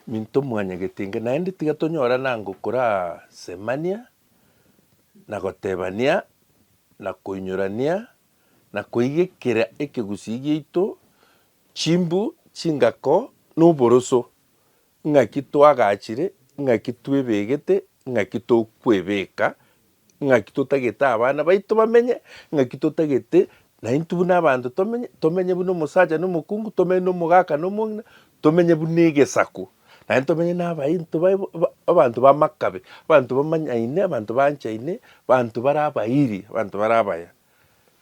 Minto mwanyagete inga naende tiga tonyorane ango korasemania, na gotebania, na koinyorania, na koigekera ekegusii giaito chimbu, chingako, na oboroso, ng'aki twagachire, ng'aki twebegete, ng'aki tokwebeka, Ng'aki totagete abana baito bamenye? Ng'aki totagete naintwe buna abanto tomenye? Tomenye buna omosacha na omokungu, tomenye na omogaka na omong'ina, tomenye buna egesaku, naende tomenye na abainto baye bo- ba- abanto b'amakabe, abanto bamanyaine, abanto baanchaine, abanto bare abairi, abanto bare abaya.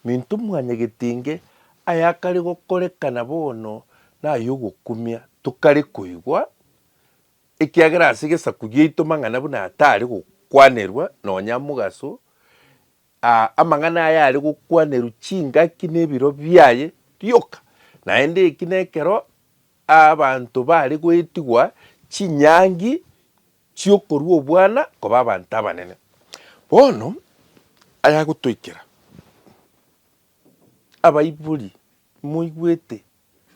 Minto mwanyagete inge ayakare gokorekana bono nay'ogokumia, tokare koigwa, Ekiagera ase gesaku giaito mang'ana buna aya tare gokwanerwa nonya amogaso, aa, amang'ana aya are gokwanerwa chingaki na ebiro biaye rioka. Naende eki nekero aa abanto bare goetigwa chinyangi chi'okorua obwana koba abanto abanene. Bono ayagotoikera, abaibori, moigwete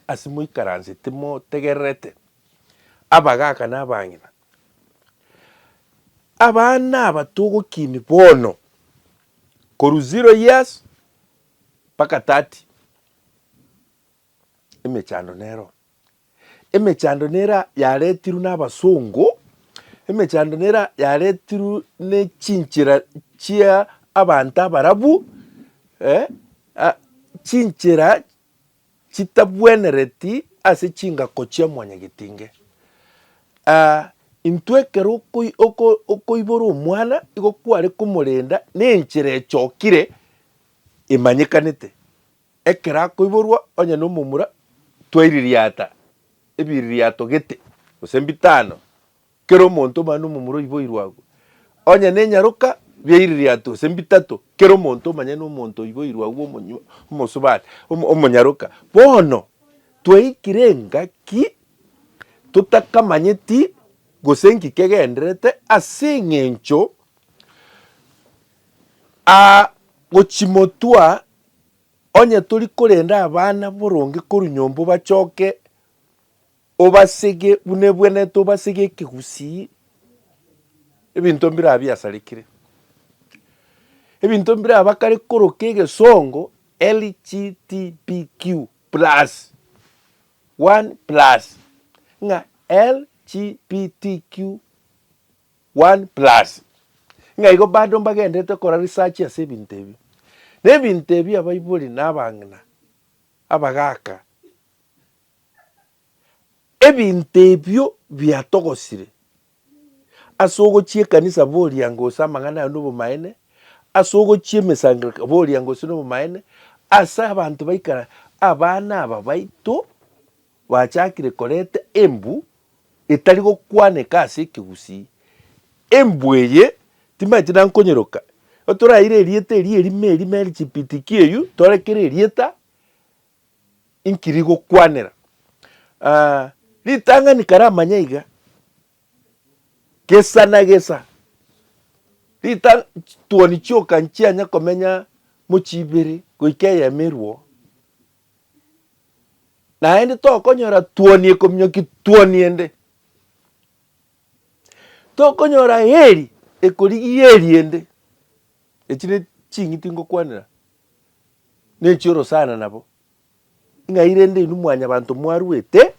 ase moikaranse timotegererete abagaaka na abang'ina. Abana aba togokini bono korwa zero years mpaka thirty, emechando nero. Emechando nera yaretirwe na abasongo, emechando nera yaretirwe ne chinchera chia abanto abarabu, chinchera chitabwenereti ase chingako chia mwanyagetinge. Aa, intwe ekero okoibora omwana, igo kware komorenda nenchera echokire emanyekanete. Ekero akoiborwa onye nomomura, twaiririata ebiririato gete, gose bitano, Kera omonto omane omomura oiboirwe agwo, onye nenyaroka, biaire riato gose mbitato, kera omonto omanye nomonto oiboirwe agwo omonyu, omosubati, omo, omonyaroka. Bono, twaikire engaki totakamanyeti gose nki kegendererete ase eng'encho aa gochimotwa onye tori korenda abana boronge korwa nyomba obachoke. Obasege buna ebwenerete, obasege ekegusii, ebinto mbiraba biasarekire. Ebinto mbiraba kare koroka egesongo LGTBQ plus, one plus, ng'a LGBTQ one plus. Ng'a igo bado mbagendererete kora research ase ebinto ebi. Na ebinto ebi abaibori na abang'ina, abagaka, Ebinto ebio biatogosire ase ogochia ekanisa boriango gose amang'ana aye nobomaene, ase ogochia emesangereko boriango gose nobomaene, ase abanto baikara abana aba baito bachakire koreta embu etari gokwaneka ase ekegusii. Embu eye timanyeti nankonyeroka, ekero toraeire erieta erio erime erime LGBTQ eywo torekere erieta inkiri gokwanera. Ah, ritang'ani karamanya iga, gesa na gesa, rita tuoni chioka nchianya komenya mochibere goika eyemerwo, naende tokonyora tuoni ekominyoki tuoni ende, tokonyora heri ekorigia heri ende. Echi ne ching'iti ngokwanera. nechioro sana nabo, ng'ai rende inwe mwanyabanto mwaruete,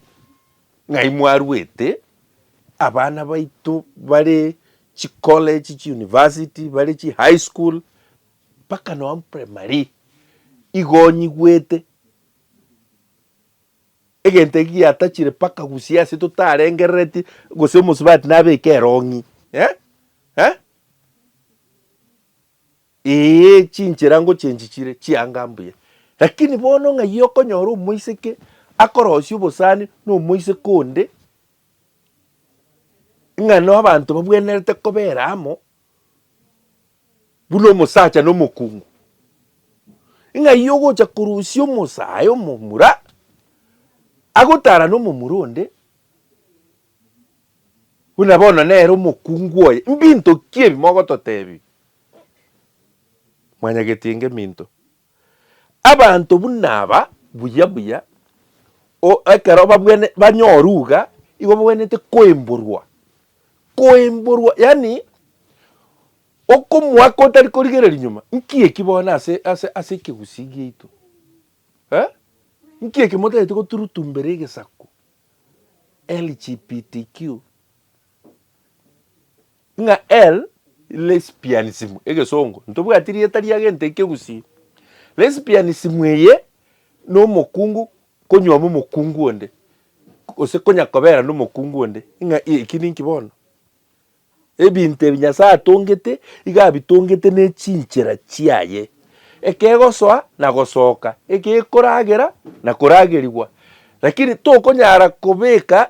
ng'ai mwaruete, abana baito bare chicollege, chiuniversity, bare chihigh school, mpaka nonya primary, igo onyigwete, egento eki giatachire mpaka gusii ase totarengereretie, gose omosubati nabeke erong'i eh? eh? Ee, chinchera ngochenchi chire chianga mbuya. Lakini bono ng'ai okonyora omoiseke akorosia obosani na omoiseke onde, ng'a na abanto babwenerete kobera amo buna omosacha na omokungu? Ng'ai ogocha korusia omosae omomura agotarane omomura onde, buna bono nere omokungu oye? Mbinto ki ebi mogototebia? Mwanyagetie ngeminto. Abanto buna aba buya buya o ekero babwene banyoru iga igo babwenerete koimborwa, koimborwa yaani okomoaka otari korigereria nyuma, nki eki bono ase ase ase ekegusii giaito eh? Nki eki motagete goturutumbera egesaku LGBTQ. Ng'a el, lesbianism, egesongo, ntobwati rieta ria gento eke gusii. Lesbianism eye nomokungu konyuoma omokungu onde, gose konya kobera nomokungu onde, ng'a eki ninki bono? Ebinto ebi Nyasaye atongete iga abitongete ne chinchera chiaye. Ekegosoa na gosoka, ekekoragera na koragerigwa. Lakini tokonyara kobeka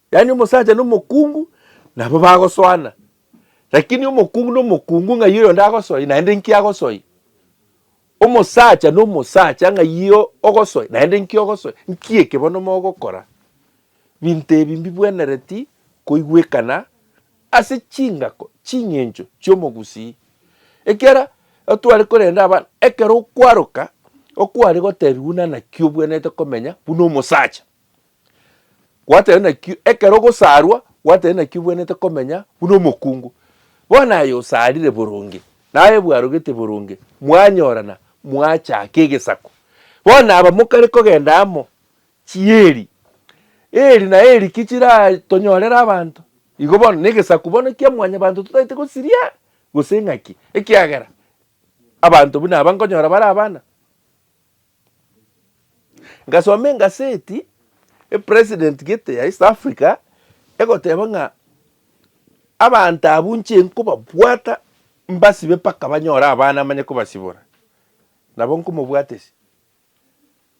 Yaani omosacha na omokungu nabo bagosoana, lakini omokungu na omokungu ng'ai oyonde agosoe naende nki agosoe? Omosacha na omosacha ng'ai ogosoe naende nki ogosoe? Nki eke bono mogokora? Binto ebi mbibwenereti koigwekana ase chingako ching'encho chi'omogusii. Ekiagera tware korenda abana, ekero okwaroka okware gotebiwa buna naki obwenerete komenya buna omosacha. Gwatari nakio ekero ogosarwa, gwatari nakio obwenerete komenya buna omokungu. Bono aye osarire boronge, naye bwarogete boronge, mwanyorana, mwachaka egesaku. Bono aba mokare kogenda amo, chieri, eri na eri ki chiratonyorere abanto? Igo bono negesaku bono kia Mwanyabaanto totaete gosiria, gose ng'aki? Ekiagera abanto buna aba nkonyora bare abana. Ngasoma engaseti epresident gete ya East Africa egoteba ng'a abanto abwo nche nkobabwata mbasibe mpaka banyore abana manye kobasibora. Nabo nkomobwatesia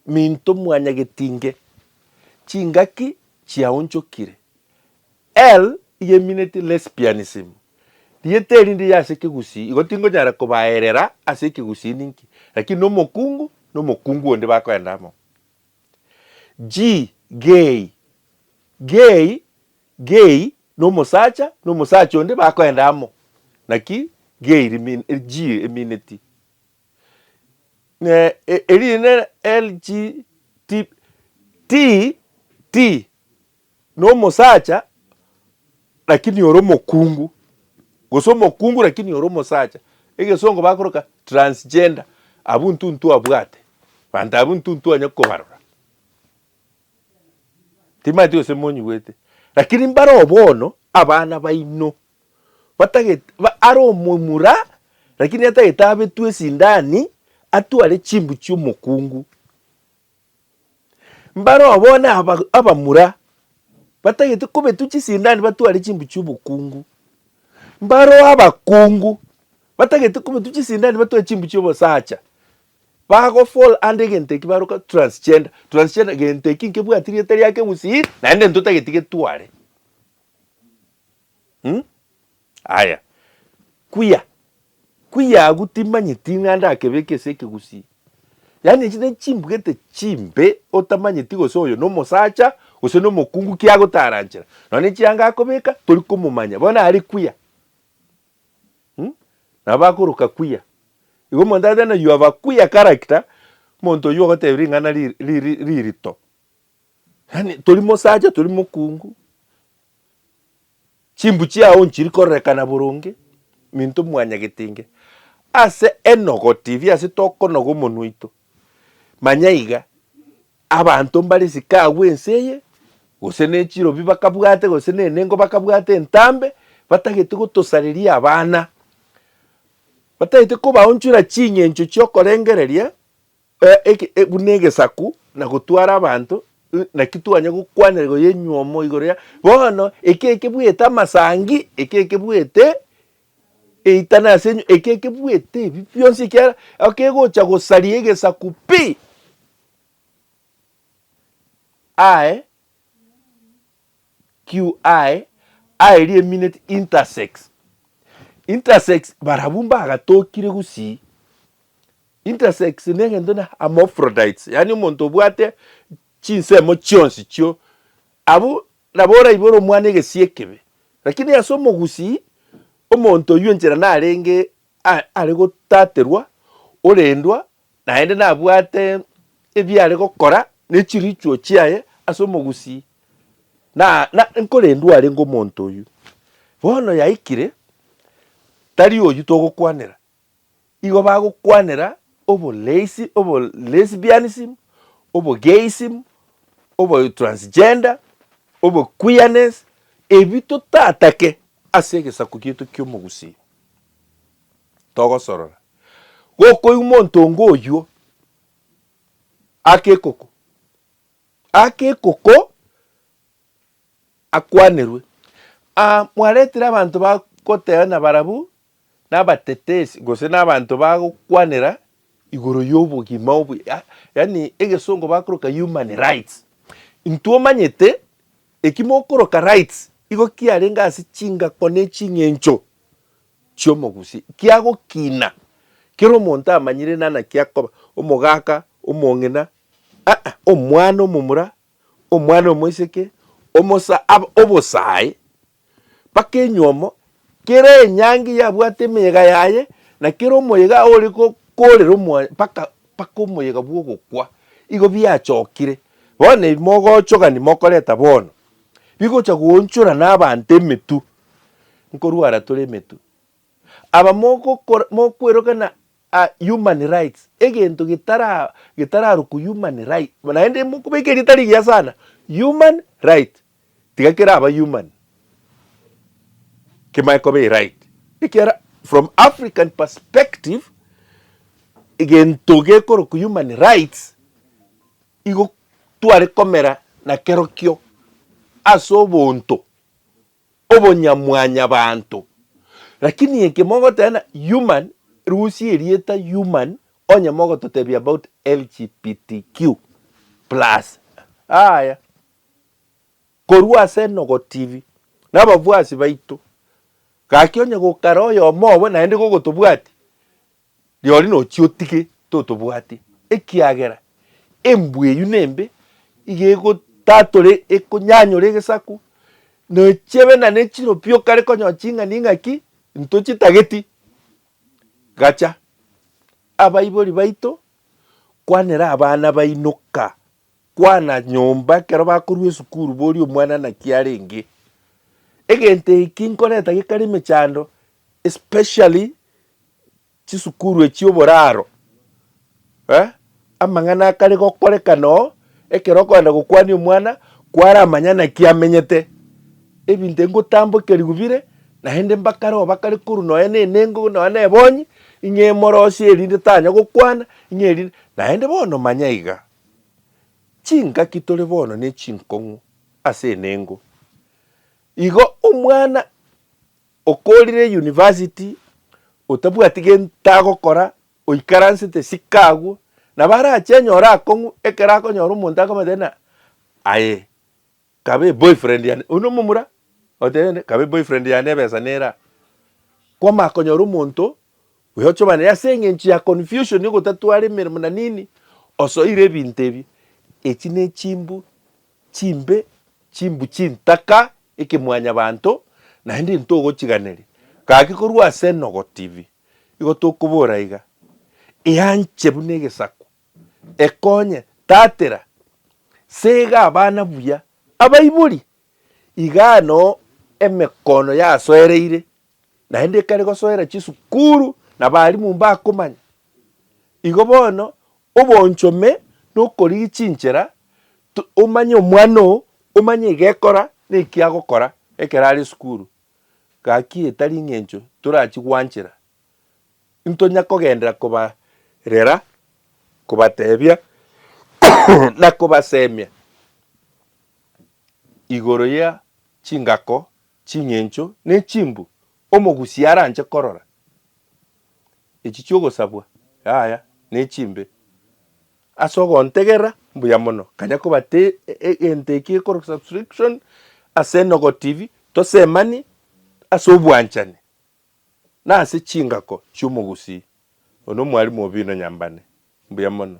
minto mwanyagetinge chingaki chiaonchokire L. Yeminate lesbianism, rieta erinde ya ase ekegusii igo tingonyara kobaerera ase ekegusii ninki, lakini nomokungu na omokungu onde bakoenda amo. G. Gay, gay, gay na omosacha na omosacha onde bakoenda amo, naki gay rimin G emineti erinde LGT T T. nomosacha lakini ore omokungu, gose omokungu lakini ore omosacha, egesongo bakoroka transgender, abwo intwe ntwabwate, abanto abwo intwe ntwanya kobarora, timanyeti gose monyigwete, lakini mbaroo bono abana baino batagete ba are omomura lakini atagete abetwe esindani atware chimbu chiomokungu. Mbareo bono abamura batagete kobetwa chisindani batware chimbu chiobokungu. Mbareo abakungu batagete kobetwa chisindani batware chimbu chiobosacha. Bago fall under egento ekio baroka transgender. Transgender egento ekio nkebwati rieta riake gusii naende ntotageti getware. Mh. Aya, kuya, kuya agwo timanyeti ng'a ndakebeke ase ekegusii. Yaani echi ne chimbugete chimbe otamanyeti gose oyo nomosacha gose nomokungu ki agotaranchera. Nonya ne chianga akobeka tori komomanya bono are kuya. Mh, nabo bakoroka kuya. Igo omonto ateba ng'a you have a kuya character, omonto oyio ogotebia ring'ana ri, ri, ri, ririto. Yaani tori mosacha tori mokungu, chimbu chiao nchiri kororekana boronge, minto mwanyagetinge. Ase enogo tibi ase tokonoga omonwa oito, manya iga abanto mbare isiko agwo ense eye, gose ne chirobi bakabwate gose ne enengo bakabwate entambe, batagete gotosareria abana. Batagete kobaonchora ching'encho chiokorengereria. Eke buna egesaku na gotwara abanto, naki twanya gokwanera goyenyuomo igoro ya bono, eke ekebuete amasangi, eke ekebuete eitana ase enywe, eke ekebuete ebi bionsi ekiagera ekegocha gosaria egesaku pi aye. QI aerie emineti intersex. Intersex barabwo mbagatokire gusii. Intersex negento na hermaphrodites yaani omonto obwate chinsemo chionsi chio abwo nabo oraibore omwana egesii ekebe lakini ase omogusii omonto oywo enchera narenge are gotaterwa orendwa Naende nabwate ebiare gokora ne chirichuo chiaye ase omogusii, na, na nkorendwe arenge omonto oyio. Bono yaikire, tari oyio togokwanera. Igo bagokwanera oboleisi, obo lesbianism, obo gayism, obo transgender, obo queerness, ebi totatake ase egesaku gieto ki'omogusii. togosorora. Gokoigwa monto onge oyio ake ekoko, ake ekoko akwanerwe. Aa mwaretire abanto bagoteba na barabwo nabatetesi gose na abanto bagokwanera igoro ya obogima obuya yaani egesongo bakoroka human rights. Intwe omanyete eki mokoroka rights igo kiarenge ase chingako ne ching'encho. chi'omogusi kiagokina, kera omonto amanyire nana kiakoba, omogaka, omong'ina, aa, omwana omomura, omwana omoiseke, omosa, aba, obosae, mpaka enyomo, kera enyangi yabwate emeyega yaye, na kera omoyega ore gokoorera omoa, mpaka, mpaka omoyega bw'ogokwa, igo biachokire. Bono ebi mogochogani mokoreta bono, bigocha goonchora na abanto emetwe. nkorwara tore emetwe. Aba mogokora mokwerokana ah human rights egento getara getararokwa human right naende mokobeka erieta rigiya sana human right tiga kera aba human kemanye koba eright ekiara from African perspective egento gekorokwa human rights igo tware komera nakerokio ase obonto. obonyamwanyabanto. Lakini eke mogoteena human, rusia erieta human onye mogototebia about LGBTQ plus aaya. Korwa ase Enogo TV na abafuasi baito, gaki onye gokara oyomo obo naende gogotobwati. Rirorio nochie otige totobwati, ekiagera embwa eyio nembe, iga egotatore ekonyanyore egesaku, nochie obe na nechiro pi okare konyora ching'ani ing'aki ntochitageti. Gacha, abaibori baito, kwanera abana baino ka, kwana nyomba ekero bakorwa esukuru boria omwana naki arenge. Egento eki nkoreta gekare emechando especially. chisukuru echio oboraro, eh, amang'ana akare gokorekana oo, ekero okogenda gokwania omwana, kwaramanya naki amenyete, ebinto ebi ngotambokerigwe bire, naende mbakare oo bakare korwa nonya na enengo nonya na ebonyi, ing'e emorosie erinde tanya gokwana, ing'e erinde, naende bono manya iga, chingaki tore bono ne chinkong'u ase enengo, igo omwana Okorire university otabwati gento agokora oikaransete siko agwo nabo arache anyore akong'u ekero akonyora omonto akomanyete ng'a aye kabe boyfriend yane oyio nomomura otebete kabe boyfriend yane ebesa nere aa. Kwamanya konyora omonto oyo ochomane naye ase eng'encho ya confusion ogotatwara emeremo na nini osoire ebinto ebi. Echi ne chimbu Chimbe chimbu chintaka ekemwanyabanto, naende ntogochiganeria. Gaki korwa ase Enogo TV, igo tokobora iga, Eanche buna egesaku, ekonye, tatera, sega abana buya, abaibori. Igaa no emekono yasoereire, naende ekare gosoera chisukuru na abalimu mbakomanya. Igo bono obonchome nokorigia chinchera to omanye omwana oo omanye egekora na ekiagokora ekero are esukuru. Gaki etari eng'encho torachi gwanchera ntonya kogenderera koba rera kobatebia na kobasemia igoro ya chingako, ching'encho ne chimbu omogusia aranche korora. Echi chi'ogosabwa, yaya, nechimbe. Ase ogontegera mbuya mono, kanya kobate egento eki gekorwa subscription ase Enogo TV, tosemani ase obwanchani na ase chingako chi'omogusii. Oyo nomwalimu obi ino Nyambane. Mbuya mono.